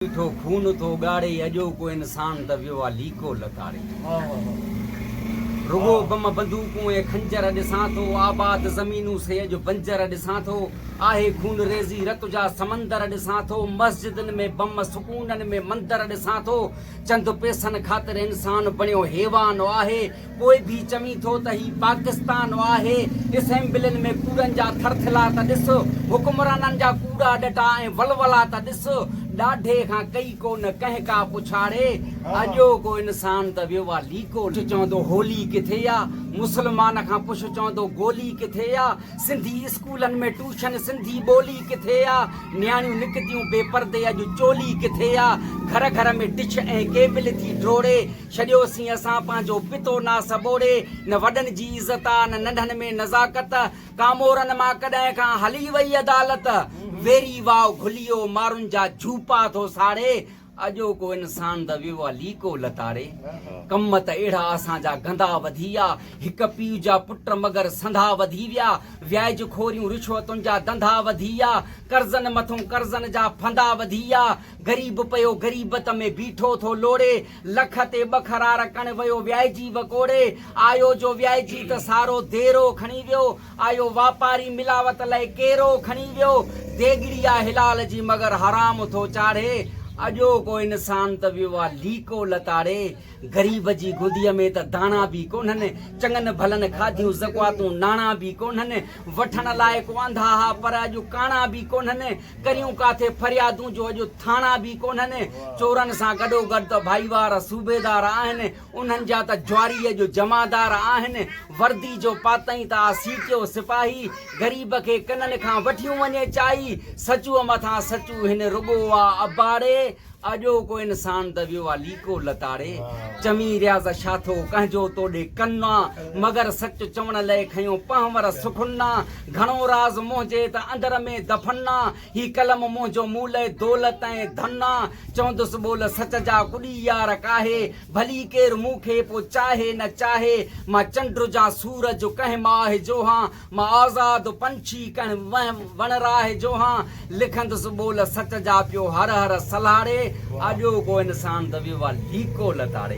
ميٺو خون ٿو ڳاڙي اڄوڪو انسان ته ويو آ ليڪو لتاڙي رڳو بم بندوقون ۽ خنجر ڏسان ٿو آباد زمينون سي اڄ بنجر ڏسان ٿو آهي خونريزي رت جا سمندر ڏسان ٿو مسجدن ۾ بم سڪونن ۾ مندر ڏسان ٿو چند پيسن خاطر انسان بڻيو حيوان آهي پوء به چوين ٿو ته هي پاڪستان آهي. اسيمبلين ۾ ڪوڙن جا ٿرٿلا ته ڏس، حڪمرانن جا ڪوڙا ڏٽا ۽ ولولا ته ڏس. ڏاڍي کان ڪئي ڪو نه ڪنهن ڪا پڇاڙي، اڄوڪو انسان ته ويو آ ليڪو. پڇ چوندو هولي ڪٿي آ، مسلمان کان پڇ چوندو گولي ڪٿي آ. سنڌي اسڪولن ۾ ٽوشن سنڌي ٻولي ڪٿي آ. نياڻيون نڪتيون بي پردي اڄ چولي ڪٿي آ. گهر گهر ۾ ڊش ۽ ڪيبل ٿي ڊوڙي. ڇڏيو سين اسان پنهنجو پتو ناس ٻوڙي، نه وڏن جي عزت آ، نه ننڍن ۾ نزاڪت، ڪامورن مان ڪڏهن کان هلي وئي عدالت، ويري واء گهليو مارن جا جهوپا ٿو ساڙي، اڄوڪو انسان ته ويو آ ليڪو لتاڙي، ڪم ته اهڙا اسان جا گندا وڌي ويا، هڪ پيء جا پٽ مگر سنڌا وڌي ويا، وياج خوريون رشوتن جا ڌنڌا وڌي ويا، قرضن مٿون قرضن جا ڦندا وڌي ويا، غريب پيو غريبت ۾ بيٺو ٿو لوڙي، لک تي ٻه خرار ڪڻ ويو ويائجي وڪوڙي، آيو جو ويائجي ته سارو ديرو کڻي ويو، آيو واپاري ملاوت لئي ڪيرو کڻي ويو، ديڳڙي آ حلال جي مگر حرام ٿو چاڙهي، اڄوڪو انسان ته ويو آ ليڪو لتاڙي، غريب جي گودي ۾ ته داڻا به ڪونهن، چڱن ڀلن کاڌيون زڪواتون ناڻا به ڪونهن، وٺڻ لاء ڪو آنڌا ها پر اڄ ڪاڻا به ڪونهن، ڪريون ڪاٿي فريادون جو اڄ ٿاڻا به ڪونهن، چورن سان گڏوگڏ ته ڀائيوار صوبيدار آهن، انهن جا ته جواريء جو جمعدار آهن، وردي جو پاتئين ته آ سيٽيو سپاهي، غريب کي ڪنن کان وٺيون وڃي چائي، سچوء مٿان سچو هن رڳو آ اباڙي، اڄوڪو انسان ته ويو آ ليڪو لتاڙي، چوين رياض شاھ ٿو ڪنھنجو تو ڏي ڪن آ، مگر سچ چوڻ لئه کنيو پنھور سخن آ، گھڻو راز منھنجي ته اندر ۾ دفن آ، ھي قلم منھنجو مون لئه دولت ۽ ڌن آ، چوندس ٻول سچ جا ڪڏي يار ڪاھي، ڀلي ڪير مون کي پو چاھي نه چاھي، مان چنڊ ھجان سورج ڪنھن ماھه جو ھان، مان آزاد پنڇي ڪنھن وھم وڻراھي جو ھان، لکندس ٻول سچ جا پيو ھر ھر سلھاڙي، آجو ڪو انسان ته ويو آ ليڪو لتاڙي.